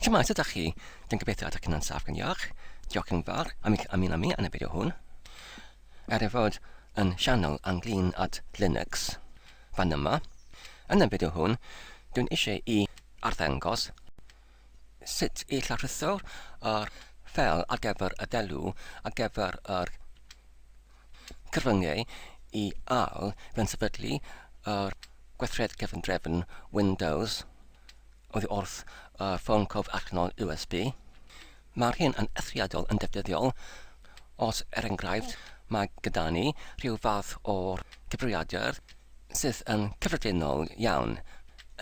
Shwmae, sut ydach chi? Dwi'n gobeithio ydych chi'n yn saff gan iach. Diolch yn fawr am eich ymuno â mi yn y fideo hwn. Er ei fod yn sianel ynglyn at Linux fan yma, yn y fideo hwn dwi'n eisiau i arddangos sut i lawrlwytho'r ffel ar gyfer y delw ar gyfer yr Cyfryngau i Al fe'n sefydlu yr gweithred cefndrefn Windows oddi wrth y ffôn cof allanol USB. Mae'r hyn yn eithriadol yn defnyddiol os er enghraifft mae gyda ni rhyw fath o gyfrifiadur sydd yn cyffredinol iawn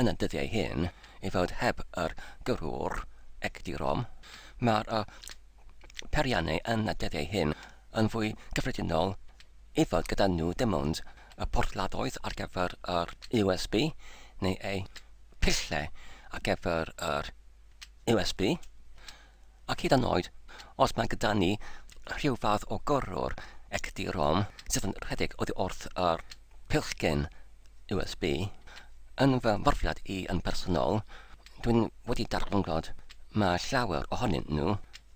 yn y dyddiau hyn i fod heb yr gyrrwr egdirom. Mae'r peiriannau yn y dyddiau hyn yn fwy cyffredinol i fod gyda nhw dim ond y porthladdoedd ar gyfer yr USB neu eu pillau ar gyfer yr USB ac hyd yn oed os mae gyda ni rhyw fath o gyrrwr XD-ROM sydd yn rhedeg oddi wrth yr pillgyn USB yn fy mhrofiad i yn bersonol Dwi'n wedi darganfod mae llawer ohonyn nhw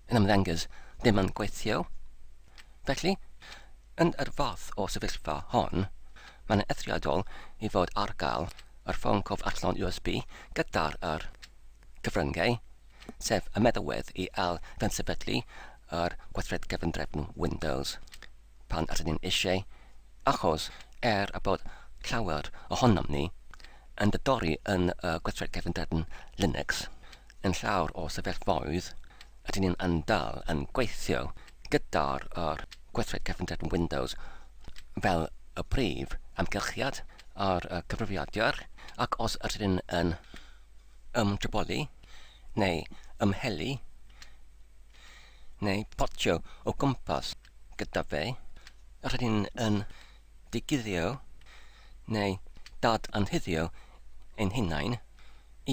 yn ymddengys ddim yn gweithio. Felly, yn yr fath o sefyllfa hon, mae'n eithriadol i fod ar gael yr ffôn cof allon USB gyda'r yr cyfryngau, sef y meddalwedd i ail-gynsyfydlu yr gweithred gyfundrefn Windows. pan ydyn ni'n eisiau, achos er y bod llawer ohonom ni yn didori yn y gweithred cefnderfyn Linux, yn llawer o sefyllfaoedd ydyn ni'n yn dal yn gweithio gyda'r yr gweithred cefnderfyn Windows fel y prif amgylchiad ar y cyfrifiadur, ac os ydyn ni'n yn ymdryboli neu ymhelu, neu potio o gwmpas gyda fe, rydyn yn diguddio neu dad-anhuddio ein hunain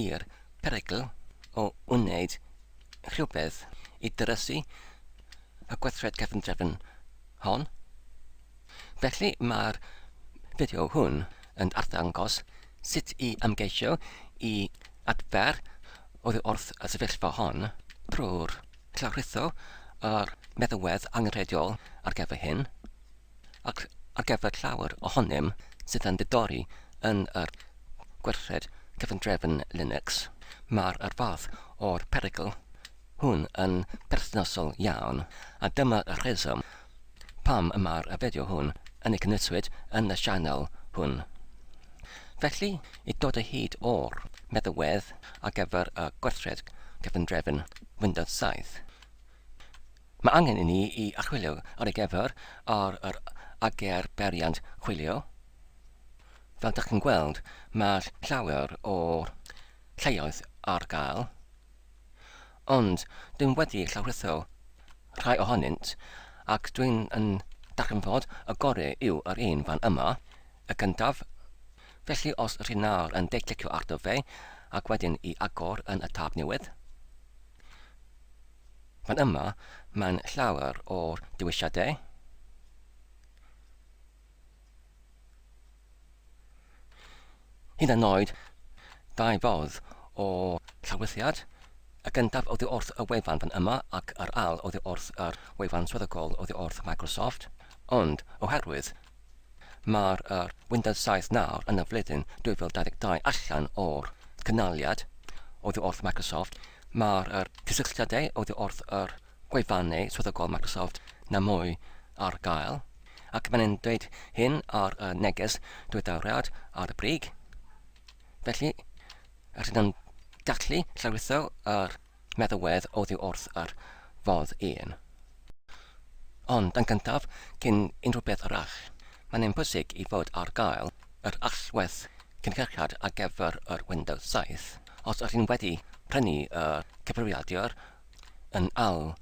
i'r perygl o wneud rhywbeth i ddrysu y gweithred cefndrefn hon. Felly, mae'r fideo hwn yn arddangos Sut i ymgeisio i adfer oddi wrth y sefyllfa hon, drwy'r llawrytho a'r meddywedd angenrheidiol ar gyfer hyn, ac ar gyfer llawer ohonom sydd yn didori yn yr gwerthiant cyfundrefn Linux, mae'r yr fath o'r perygl hwn yn berthnasol iawn, a dyma'r rheswm pam y mae'r fideo hwn yn ei gynnwyswyd yn y sianel hwn. Felly, i dod o hyd o'r meddalwedd ar gyfer y gwerthiad cyfundrefn Windows 7, mae angen i ni i archwilio ar ei gyfer ar yr AGR beiriant chwilio. Fel dach chi'n gweld, mae llawer o lleoedd ar gael, Ond dw i wedi llawrytho rhai ohonynt, ac dw i'n yn darganfod y gore yw yr un fan yma, y gyntaf. Felly os rhi nawr yn de clicio ar do fe, ac wedyn i agor yn y tab newydd. Fan yma, mae'n llawer o'r dewisiadau. Hyd yn oed, dau fodd o lawrithiad, y gyntaf oddi wrth y wefan fan yma ac yr ail oddi wrth yr wefan swyddogol oddi wrth Microsoft, ond oherwydd mae'r yr Windows 7 nawr yn y flwyddyn 2022 allan o'r cynaliad oddi wrth Microsoft, mae'r yr cysylltiadau oddi wrth yr gwefannau swyddogol Microsoft na mwy ar gael, ac mae'n e'n dweud hyn ar y neges diweddariad ar y brig. Felly, rydyn nhw'n gallu llawritho yr meddywedd oddi wrth yr fodd un. Ond yn gyntaf, cyn unrhyw beth arall, mae'n ein bwysig i fod ar gael yr allwedd cynhyrchiad ar gyfer yr Windows 7 os ydych chi'n wedi prynu y cyfrifiadur yn ail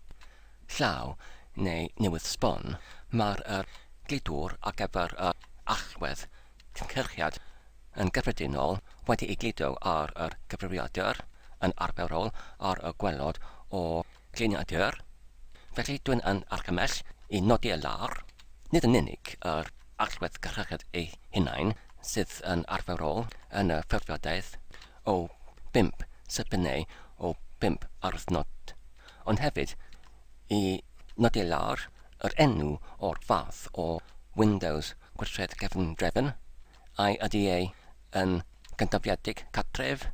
llaw neu newydd sbon, mae'r gludwr ar gyfer yr allwedd cynhyrchiad yn gyffredinol wedi'i gludo ar y cyfrifiadur yn arferol ar y gwaelod o gliniadur. Felly, dw i'n argymell i nodi y lar, nid yn unig yr allwedd cynhyrchiad ei hunain sydd yn arferol yn y ffurfiadaeth o bump sipyn neu o bump ardd nod, ond hefyd i nodi lawr yr enw o'r fath o Windows gweithred cefndrefn, ai ydy e yn gynafiedig cartref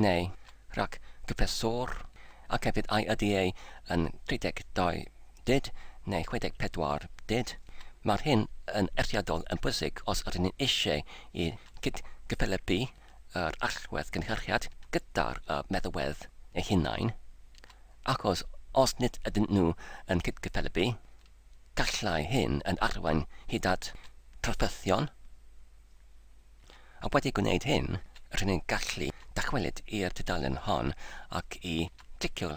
neu rhag cyffeswr, ac hefyd ai ydy e yn 32 byd neu 64 byd, mae'r hyn yn eithriadol yn bwysig os ydyn ni eisiau i gyd-gyfathrebu yr allwedd gynhyrchiad gyda'r meddalwedd eu hunain, achos os nid ydyn nhw yn cydgyffelybu, gallai hyn yn arwain hyd at drafferthion, a wedi gwneud hyn, rŷn ni'n gallu dychwelyd i'r tudalen hon ac i glicio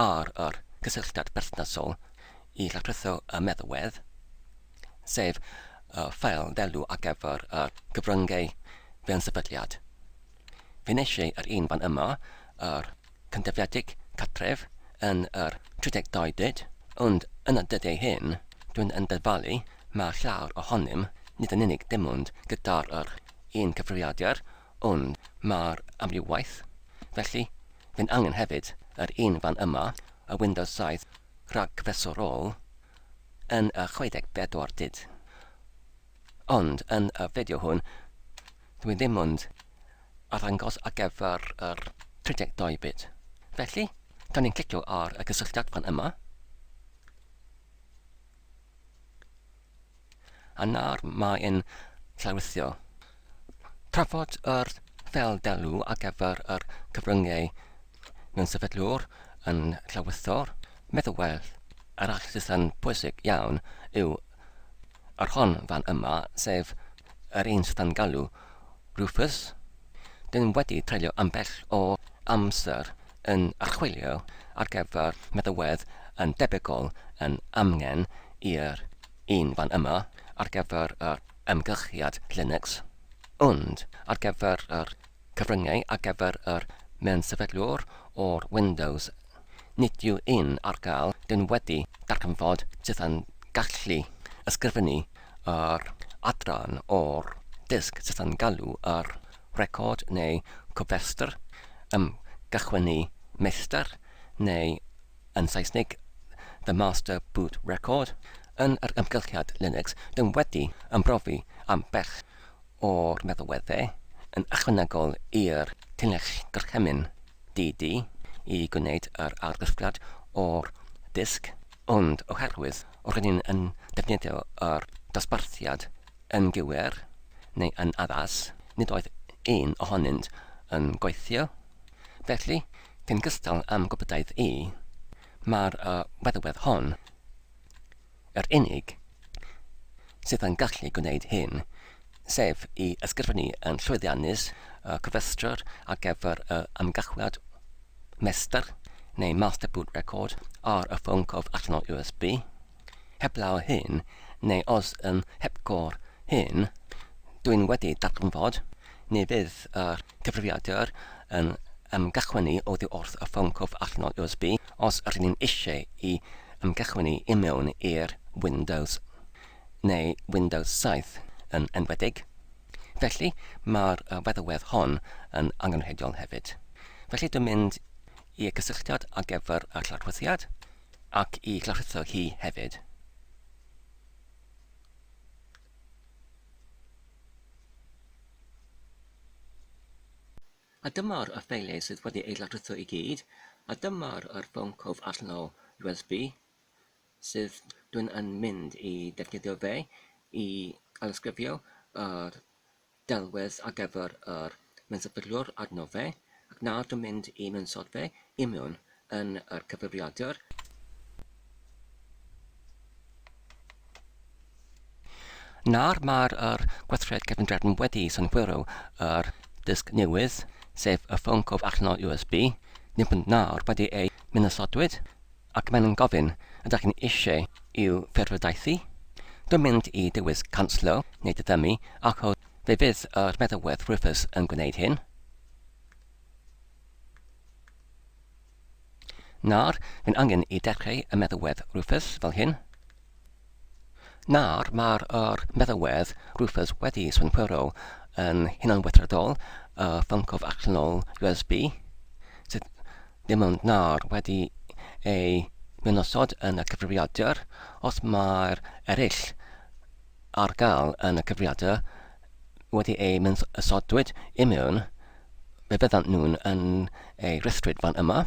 ar yr cysylltiad berthnasol i labryddo y meddalwedd. sef y ffeil ddelw ar gyfer y cyfryngau fewn sefydliad. Fe nes i yr un fan yma, yr cyntefliedig cartref, yn yr 32 dyd, ond yn y dyddiau hyn, dwi'n yn dyfalu mae llawer ohonym nid yn unig dim ond gyda'r yr un cyfrifiadur, ond mae'r amrywiaeth, felly fe'n angen hefyd yr un fan yma, y Windows 7 rhagfesorol, yn y 64 dyd. Ond yn y fideo hwn, dwi ddim ond arddangos ar gyfer yr 32 byd. Felly, da ni'n clicio ar y cysylltiad fan yma. A nawr mae e'n llawrytho. Trafod yr fel delw ar gyfer yr cyfryngau mewn sefydlwr yn llawrythor, meddwl well arall sydd yn bwysig iawn yw yr hon fan yma, sef yr un sydd yn galw Rufus, Dyn wedi treulio ambell o amser yn archwilio ar gyfer meddalwedd yn debygol yn amgen i'r un fan yma ar gyfer yr amgylchiad Linux, ond ar gyfer yr cyfryngau ar gyfer yr mewn sefydlwr o'r Windows Nid yw un ar gael gan wedi darganfod tydan gallu ysgrifennu yr adran o'r dysg tydan galw ar record neu cofrestr am gychwynnu meistr neu yn Saesnig The Master Boot Record yn yr amgylchiad Linux dan wedi ymbrofi am bell o'r meddalwedde yn ychwanegol i'r Llinell Gorchymyn DD i gwneud yr argraffiad o'r disg, ond oherwydd roedden ni yn defnyddio yr dosbarthiad yn gywir neu yn addas, nid oedd un ohonynt yn gweithio. Felly, cyn cystal â'm gwybodaidd i, mae'r yy feddalwedd hon. Yr unig sydd yn gallu gwneud hyn, sef i ysgrifennu yn llwyddiannus y cofrestrwr ar gyfer y ymgychweliad mestr neu master boot record ar y ffôn cof allanol USB, heblaw hyn, neu os yn hepgor hyn, dw i'n wedi darganfod Ni fydd yr cyfrifiadur yn ymgychwynnu oddi wrth y ffôn cwff allanol USB os rŷn ni'n eisiau i ymgychwynnu i mewn i'r Windows, neu Windows 7 yn enwedig. Felly, mae'r feddalwedd hon yn angenrheidiol hefyd. Felly dwi'n mynd i'r cysylltiad ar gyfer y lawrffrithiad, ac i lawrffritho hi hefyd. A dyma'r ffeiliau sydd wedi eu lawrlwytho i gyd, a dyma'r yr ffôn cof allanol USB sydd dwi'n yn mynd i ddefnyddio fe i alysgrifio yr delwedd ar gyfer yr mensaphurwr arno fe ac nad yn mynd i mensaod fe i mewn yn yr cyfrifiadur. Nawr mae'r yr gweithred cyfundrefn wedi synhwyro yr disg newydd, sef y ffôn cof allanol USB, neu nawr wedi ei menasodwyd, Ac maen nhw'n gofyn, ydach chi'n eisiau i'w phyrwydaethu? Dim mynd i dywys canslo neu diddymu achos fe fydd yr meddalwedd Rufus yn gwneud hyn. Nawr, mae'n angen i dechrau y meddalwedd Rufus fel hyn. Nawr, mae'r yr meddalwedd Rufus wedi synhwyro yn hunanweithredol y ffyncof allanol USB, sydd ddim ond nawr wedi ei ddinosod yn y cyfrifiadur, os mae'r eraill ar gael yn y cyfrifiadur wedi eu mynsodwyd i mewn, fe fyddant nhw'n yn ei rhestrid fan yma.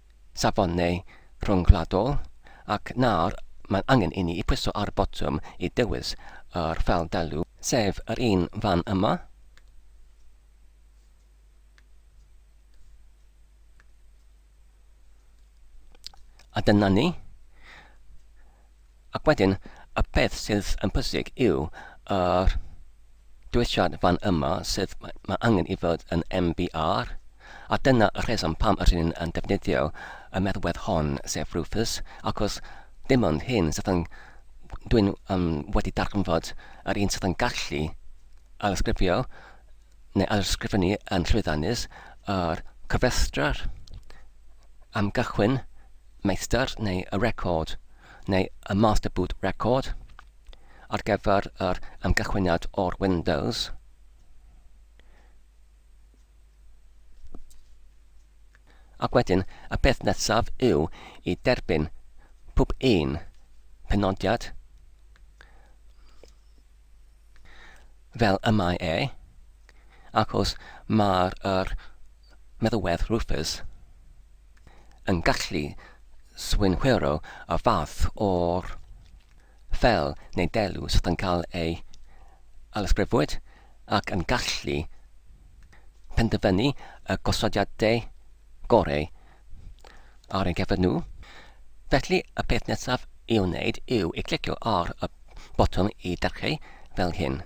safonau rhyngwladol, ac nawr mae'n angen i ni pwyso ar y botwm i ddewis yr ffeil deiliw, sef yr un fan yma. A dyna ni. Ac wedyn, y peth sydd yn pwysig yw yr dwyshiad fan yma, sef mae angen i fod yn MBR, a dyna y rheswm pam yr hyn yn defnyddio y meddwedd hon, sef Rufus, achos dim ond hyn sydd yn... dwi'n um, wedi darganfod yr un sydd yn gallu ailysgrifio neu ailysgrifennu yn llwyddiannus yr cofrestr am gychwyn meistr neu y record neu y master boot record ar gyfer yr amgychwyniad o'r Windows ac wedyn y peth nesaf yw i derbyn pob un penodiad fel y mae e, ac os mae'r yr meddywedd Rufus yn gallu swynhwyrho y fath o'r fel neu delw sydd yn cael ei alysgrifwyd ac yn gallu penderfynu y gosodiadau goreu ar ein cefn nhw. Felly, y peth nesaf i'w wneud yw i glicio ar y botwm i dyrchu fel hyn.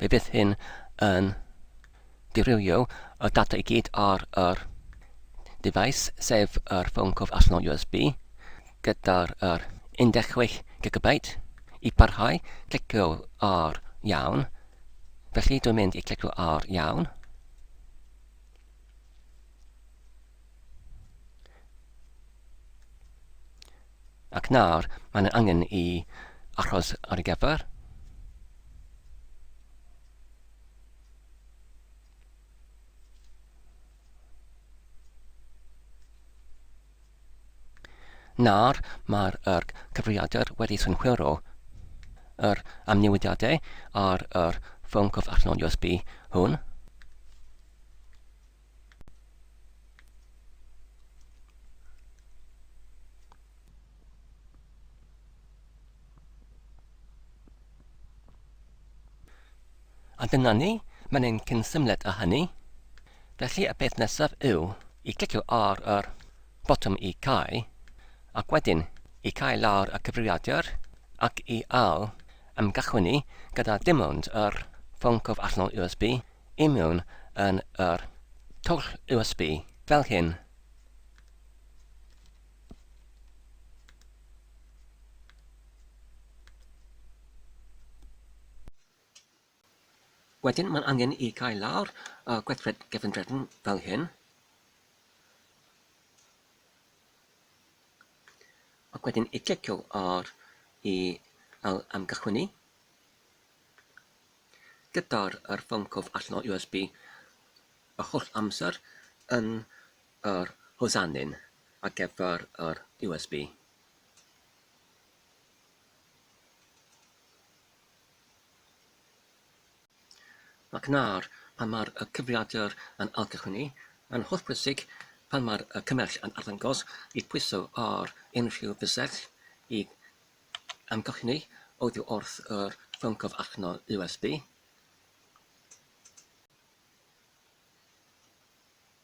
Fe fydd hyn yn dirywio y data i gyd ar yr device, sef yr ffôn cof allanol USB, gyda'r yr 16 GB. I parhau, clicio ar iawn. Felly dwi'n mynd i clicio ar iawn. Ac nawr, mae'n yn angen i achos ar y gyfer. Nawr mae'r yr cyfrifiadur wedi synhwyro yr amnewidiadau ar yr ffôn cwf allanol USB hwn. A dyna ni, mae'n ein cynsymled â hynny. Felly y peth nesaf yw i glicio ar yr botwm i cau, ac wedyn i cau lawr y cyfrifiadur ac i ail ymgychwynnu gyda dim ond yr ffôn cof allanol USB i mewn yn yr twll USB, fel hyn. Wedyn mae'n angen i gael lawr y gweithred gefndredn fel hyn. Ac wedyn i clicio ar i al amgychwynu. Gyda'r ffôn cof allan o USB y holl amser yn Yr hosanyn ar gyfer yr USB. Ac nawr, pan mae'r cyfrifiadur yn ailgychwynnu, mae'n hollbwysig pan mae'r cymell yn arddangos i pwyso ar unrhyw fysell i amgylchynu oddi wrth yr ffôn cyfrifno USB.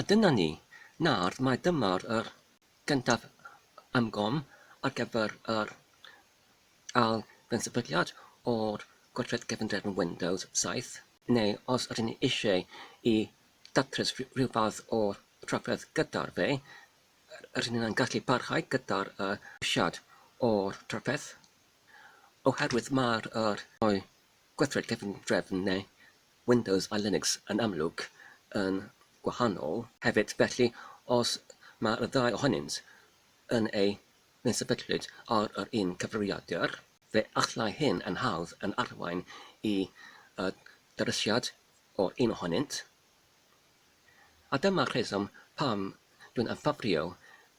A dyna ni, nawr mae dymor yr gyntaf am gom ar gyfer yr ail fensaernfyddiad o'r gweithred gefndrefn Windows 7, neu os ydyn ni eisiau i ddatrys rhyw fath o drafferth gyda'r fe, rydyn ni yn gallu parhau gyda'r ceisiad o'r drafferth, oherwydd mai'r rhai o'r gweithred gefndrefn neu Windows a Linux yn amlwg yn gwahanol. Hefyd, felly, os mae'r ddau ohonynt yn eu mysefydlwyd ar yr un cyfrifiadur, fe allai hyn yn hawdd yn arwain i ddarysiad o'r un ohonynt a dyma'r rheswm pam dwi'n ymffafrio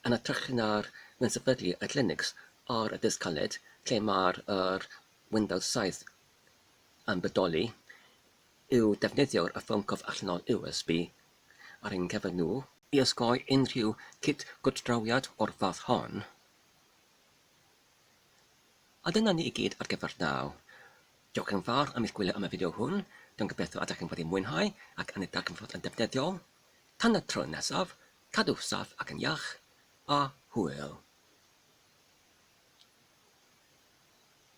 yn hytrach na'r mysefydlu y Linux ar y disg caled lle mae'r Windows 7 yn bodoli yw defnyddio'r ffôn cof allanol USB ar ein cyfer nhw. I osgoi unrhyw cit gwrthdrawiad o'r fath hon. A dyna ni i gyd ar gyfer naw. Diolch yn fawr am eich gwylio am y fideo hwn, dwi'n gobeithio ydych yn wedi mwynhau ac yn ei darganfod yn defnyddiol. Tan y tro nesaf, cadw saff ac yn iach, a hwyl!